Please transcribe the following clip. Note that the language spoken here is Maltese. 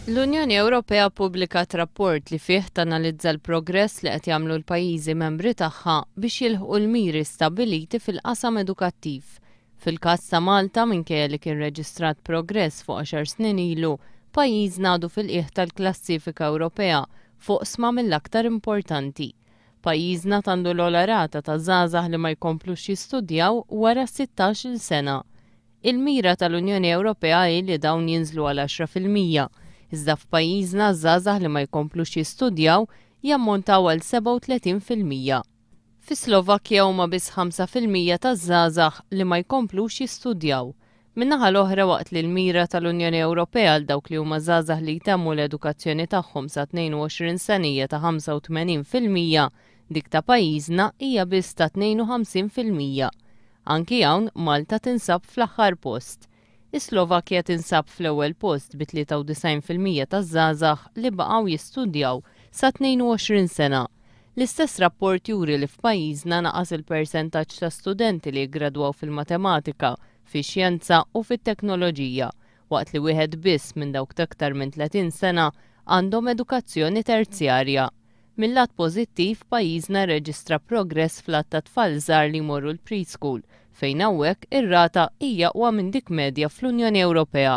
L-Unjoni Ewropea ppubblikat rapport li fih tanalizza l-progress li qed jagħmlu l-pajjiżi membri tagħha biex jilħqu l-miri stabbiliti fil-qasam edukattiv. Fil-każ ta' Malta, minkejja li kien reġistrat progress fuq għaxar snin ilu, pajjiżna għadu fil-qiegħ tal-klassifika Ewropea f'oqsma mill-aktar importanti. Pajjiżna t'għandu l-ogħla rata ta' żgħażagħ li ma jkomplux jistudjaw wara s-sittax-il sena. Il-mira tal-Unjoni Ewropea hi li dawn jinżlu għal għaxra fil-mija, iżda f'pajjiżna ż-żgħażagħ li ma jkomplux jistudjaw jammontaw għal 37 fil-mija. Fis-Slovakkja huma biss ħamsa fil-mija taż-żgħażagħ li ma jkomplux jistudjaw. Min-naħa l-oħra, waqt li l-mira tal-Unjoni Ewropea għal dawk li huma żgħażagħ li jtemmu l-edukazzjoni tagħhom sa 22 sena hija ta' 85 fil-mija, Dik ta' pajjiżna hija biss ta' 52 fil-mija. Anki hawn Malta tinsab fl-aħħar post. Is-Slovakkja tinsab fl-ewwel post bi 93 fil-mija taż-żgħażagħ li baqgħu jistudjaw sa 22 sena. L-istess rapport juri li f'pajjiżna naqas il-persentaġġ ta' studenti li jiggradwaw fil-matematika, fix-xjenza u fit-teknoloġija, waqt li wieħed biss minn dawk t'aktar minn 30 sena għandhom edukazzjoni terzjarja. Mil-lat pożittiv, pajjiżna rreġistra progress fl-għadd ta' tfal żgħar li jmorru l-preschool, fejn hawnhekk ir-rata hi aqwa minn dik medja fl-Unjoni Ewropea.